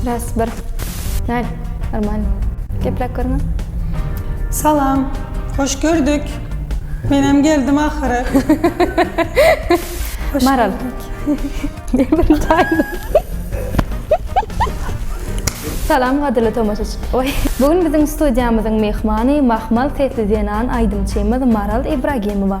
Raz, bir. Nal, normal. Geplek görme. Salam. Hoş gördük. Menem geldim ahyry. Maral. Ne bir taydı. Salam gadyrly tomaşaçy. Oy. Bugün biziň studiýamyzyň myhmany mahmal sesli zenan aýdymçymyz Maral Ibragimowa.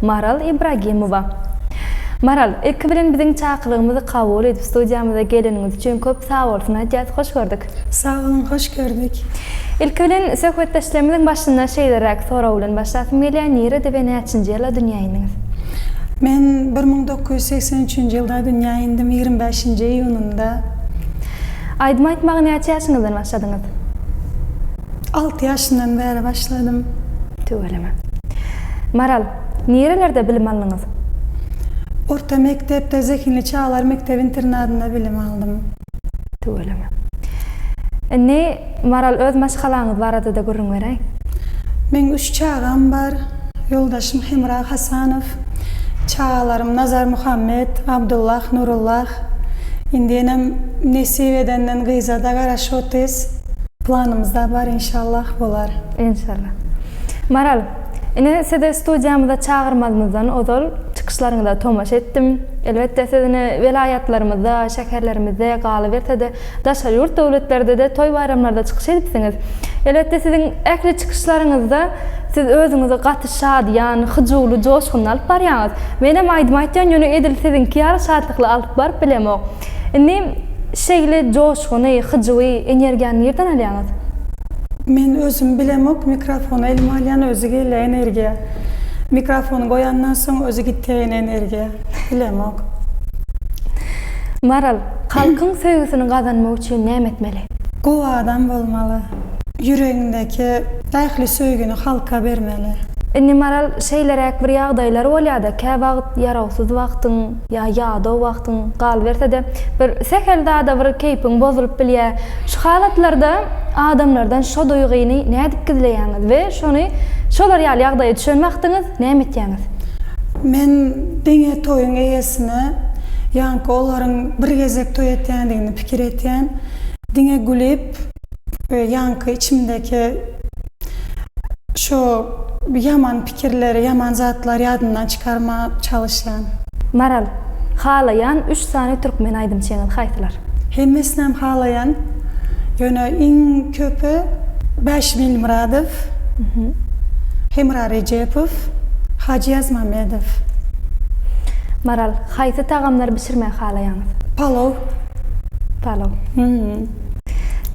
Maral Ibragimowa. Maral, ilki bilen biziň çakylygymyzy kabul edip studiýamyza geleniňiz üçin köp sagbolsun aýdýas, hoş gördük. Sag boluň, hoş gördük. Ilki bilen söhbetdeşligimiziň başynda şeýleräk sorag bilen başlasym gelýär, nirede we näçinji ýylda dünýä indiňiz? Men bir müň dokuz ýüz segsen üçünji ýylda dünýä indim, ýigrimi bäşinji iýunynda. Aýdym aýtmaga näçe ýaşyňyzdan başladyňyz? Alty ýaşyndan bäri başladym. Tüweleme. Maral, nirelerde bilim aldyňyz? Orta mekdepde Zehinli çagalar mekdep-internadynda bilim aldym. Tüweleme. Indi, Maral, öz maşgalaňyz barada-da gürrüň beräý. Meň üç çagam bar. Ýoldaşym Hemra Hasanow. Çagalarym Nazar Muhammet, Abdullah, Nurullah. Indi enem nesip edenden gyza-da garaşyp otyrys. Planymyzda bar inşallah bolar. Inşallah. Maral, ine sizi studiýamyza çagyrmazymyzdan ozal çykyşlaryňyza tomaşa etdim. Elbetde siz ine welaýatlarymyzda, şäherlerimizde galyberse-de daşary ýurt döwletlerde-de toý-baýramlarda çykyş edipsiňiz. Elbetde siziň ähli çykyşlaryňyzda siz özüňizi gaty şadyýan, hyjuwly, joşgunly alyp barýaňyz. Menem aýdym aýtýan ýöne edil siziňki ýaly şatlykly alyp baryp bilemok. Indi şeýle joşguny, hyjuwy, energiýany nirden alýaňyz? Men özüm bilemok, mikrofony elime alýan özi gelýä energiýa. Mikrofony goýandan soň özi gitýä ýene energiýa. Bilemok. Maral, halkyň söýgüsini gazanmak üçin näme etmeli? Gowy adam bolmaly. Ýüregiňdäki ähli söýgini halka bermeli. Indi Maral şeýleräk bir ýagdaýlar bolýada, käwagt ýarawsyz wagtyň, Ýa ýadaw wagtyň galyberse-de, bir sähel zada bir keýpiň bozulyp bilýär. Şu halatlarda adamlardan şo duýgyny nädip gizleýäňiz we şony şolar ýaly ýagdaýa düşen wagtyňyz näme etýäňiz? Men diňe toýuň eýesine, ýaňky olaryň bir gezek toý etýändigini pikir etýän. Diňe gülip, We ýaňky içimdäki şu ýaman pikirleri, ýaman zatlary ýadymdan çykarmaga çalyşýan. Maral, halaýan üç sany türkmen aýdym çeňiz haýsylar? Hemmesinem halaýan. Ýöne iň köpi Bäş Bilmyradow, Hemra Rejepow, Hajy Ýazmamedow. Maral, haýsy tagamlary bişirmegi halaýaňyz? Palow. Palow.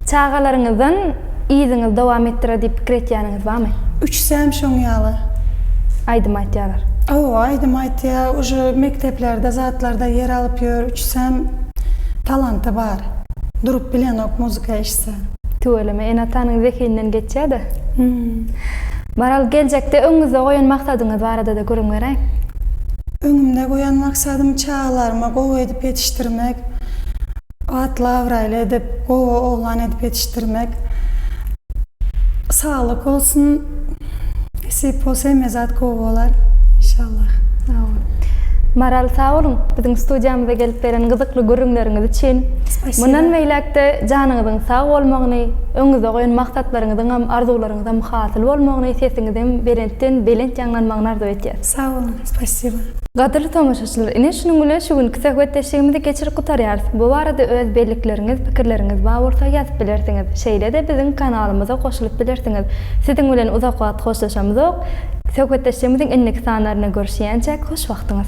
Çagalaryňyzdan yzyňyzy dowam etdirer diýip pikir etýäniňiz barmy? Üçüsem şoň ýaly. Aýdym aýtýarlar. Hawa aýdym aýtýar uje mekdeplerde zatlarda ýer alyp ýör üçüsem talanty bar durup bilenok muzika eşitse. Tüweleme ene atanyň zehinden geçýäda. Maral geljekde öňüňizde goýan maksadyňyz baradada gürrüň beräýiň. Öňümde goýan maksadym çagalarymy gowy edip ýetişdirmek. Atly-abraýly edip, gowy oglan edip ýetişdirmek. Saglyk bolsun. Nesip bolsa hemme zat gowy bolar. Inşallah. Sag bol. Maral sag boluň biziň studiýamyza gelip beren gyzykly gürrüňleriňiz üçin. Spasiba. Mundan beýläk-de janyňyzyň sag bolmagyny, öňüňizde goýan maksatlaryňyzyňam, arzuwlaryňyzam hasyl bolmagyny, sesiňizem belentden belent ýaňlanmagyny arzuw etýäs. Sag boluň, spasiba. Gadyrly tomaşaçylar, ine şunuň bilen şu günki söhbetdeşligimizi geçirip gutarýarys. Bu barada öz bellikleriňiz, pikirleriňiz bar bolsa ýazyp bilersiňiz. Şeýle-de biziň kanalymyza goşulyp bilersiňiz. Siziň bilen uzak wagt hoşlaşamyzok. Söhbetdeşligimiziň indiki sanlarynda görüşýänçäk, hoş wagtyňyz.